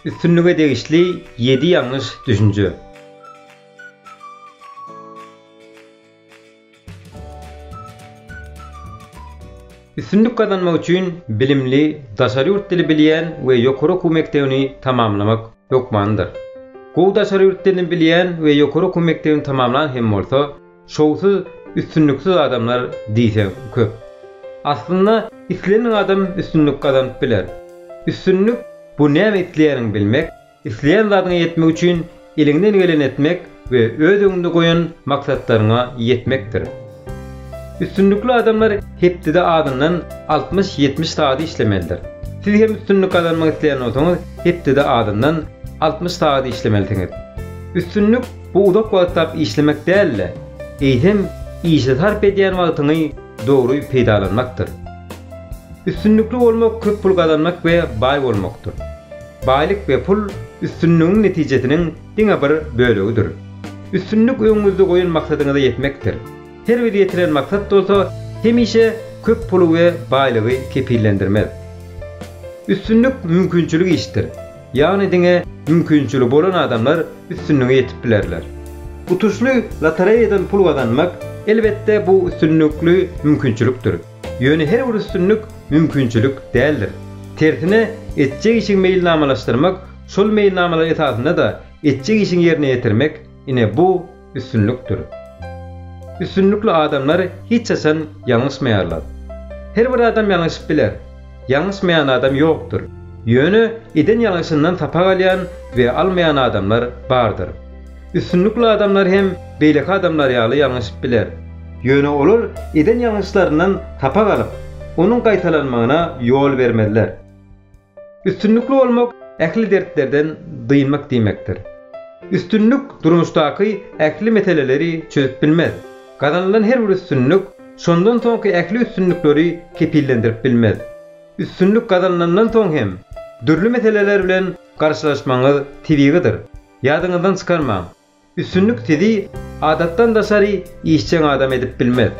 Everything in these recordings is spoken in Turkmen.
Üstünlige degişli ýedi ýalňyş düşünje. Üstünlik gazanmak üçin bilimli, daşary ýurt dili bilýän we ýokary okuw mekdebini tamamlamak hökmanydyr. Gowy daşary ýurt dilini bilýän we ýokary okuw mekdebini tamamlan hem bolsa, Şowsuz, üstünliksiz adamlar diýseň köp. Aslynda islenen adam üstünlik gazanyp biler. Üstünlik, bu näme isleýäniňi bilmek, isleýän zadyňa ýetmek üçin eliňden geleni etmek we öz öňüňde goýan maksatlaryňa ýetmekdir. Üstünlikli adamlar hepdede azyndan altmyş-ýetmiş sagat işlemelidir. Siz hem üstünlik gazanmak isleýän bolsaňyz, hepdede azyndan altmyş sagat işlemelidiňiz. Üstünlik, Bu uzak wagtlap işlemek däl-de, eýsem, işe sarp edýän wagtyňy dogry peýdalanmakdyr. Üstünlikli bolmak köp pul gazanmak we baý bolmakdyr. Baýlyk we pul üstünligiň netijesiniň diňe bir bölegidir. Üstünlik öňüňizde goýan maksadyňyza ýetmekdir. Her bir ýetilen maksat bolsa hemişe köp puly we baýlygy kepillendirmez. Üstünlik mümkinçilik işdir. Ýagny diňe mümkinçiligi bolan adamlar üstünlige ýetip bilerler. Utuşly lotoreýadan pul gazanmak, elbetde, bu üstünlikli mümkinçilikdir. Ýöne her bir üstünlik mümkinçilik däldir. Tersine, etjek işiňi meýilnamalaşdyrmak, şol meýilnamalar esasynda-da etjek işiňi ýerine ýetirmek, ine, bu, üstünlikdir. Üstünlikli adamlar hiç haçan ýalňyşmaýarlar. Her bir adam ýalňyşyp biler. Ýalňyşmaýan adam ýokdur. Ýöne eden ýalňyşyndan sapak alýan we almaýan adamlar bardyr. Üstünlikli adamlar hem beýleki adamlar ýaly ýalňyşyp biler. Ýöne olar eden ýalňyşlaryndan sapak alyp, onuň gaýtalanmagyna ýol bermezler. Üstünlikli bolmak ähli dertlerden dynmak diýmekdir. Üstünlik durmuşdaky ähli meseleleri çözüp bilmez. Gazanylan her bir üstünlik şondan soňky ähli üstünlikleri kepillendirip bilmez. Üstünlik gazanylandan soň hem dürli meseleler bilen garşylaşmagyňyz tebigydyr. Ýadyňyzdan çykarmaň! Üstünlik sizi adatdan daşary işjeň adam edip bilmez.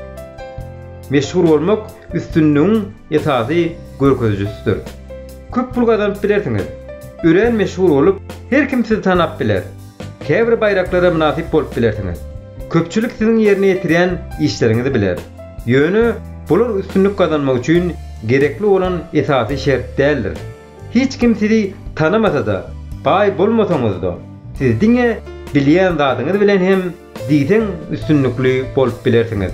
Meşhur bolmak üstünligiň esasy görkezijisidir. Köp pul gazanyp bilersiňiz. Örän meşhur bolup, her kim sizi tanap biler. Käbir baýraklara mynasyp bolup bilersiňiz. Köpçülik siziň ýerine ýetirýän işleriňizi biler. Ýöne bular üstünlik gazanmak üçin gerekli bolan esasy şert däldir. Hiç kim sizi tanamasa-da, baý bolmasaňyz-da, siz diňe bilýän zadyňyz bilen hem diýseň üstünlikli bolup bilersiňiz.